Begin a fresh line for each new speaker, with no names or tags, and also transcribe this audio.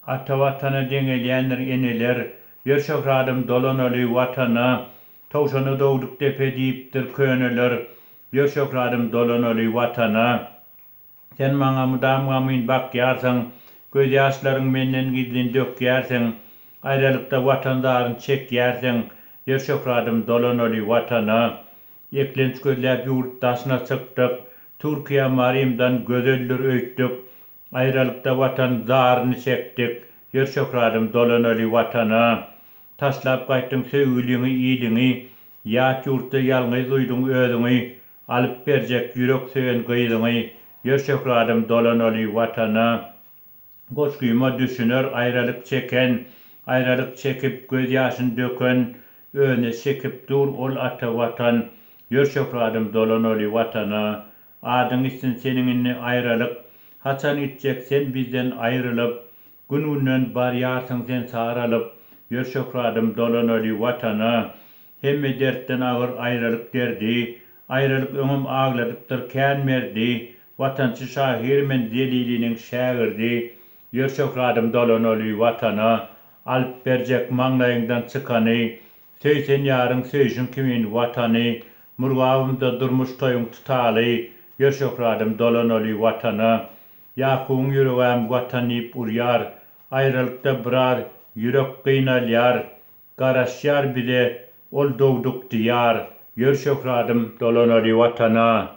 Ata Watana deňelýändir eneler, Ýör şöhradym dolanaly Watana, Towşana dogduk depe diýipdir köneler, Ýör şöhradym dolanaly Watana. Sen maňa mydam gamgyn bakýarsyň, Gözýaşlaryň menden gizlin dökýärsiň, Aýralykda Watan zaryn çekýärsiň, Ýör şöhradym dolanaly Watana. Eklenç gözläp ýurt daşyna çykdyk, Türkiýe Marymdan gözeldir öýtdük, Aýralykda Watan zaryny çekdik, Ýör şöhradym dolanaly Watana. Taşlap gaýtdyň söýgüliňi iliňi, Ýat ýurtda ýalňyz duýduň özüňi, Alyp berjek ýürek söýen gyzyňy, Ýör şöhradym dolanaly Watana. Goşgyma düşüner aýralyk çeken, Aýralyk çekip, göz ýaşyn döken, Özüne çekip dur ol ata Watan. Ýör şöhradym dolanaly Watana. Adyň içsin seniň indi aýralyk, Haçan gitjek sen bizden aýrylyp? Gün-günden barýarsyň sen saralyp, Ýör şöhradym dolanaly Watana. Hemme dertden agyr aýralyk derdi, Aýralyk öňem agladypdyr kän merdi. Watançy şahyr men Zeliliniň şägirdi, Ýör şöhradym dolanaly Watana. Alyp berjek maňlaýyňdan çykany, Söý sen ýaryň söýşüň kimin Watany. Murgabymda durmuş toýuň tutaly, Ýör şöhradym dolanaly Watana. Ýakubyň ýüregäm Watan diýip urýar, Aýralykda biraz ýürek gynalýar. Garaşýar bize ol dogduk Diýar, Ýör şöhradym dolanaly Watana.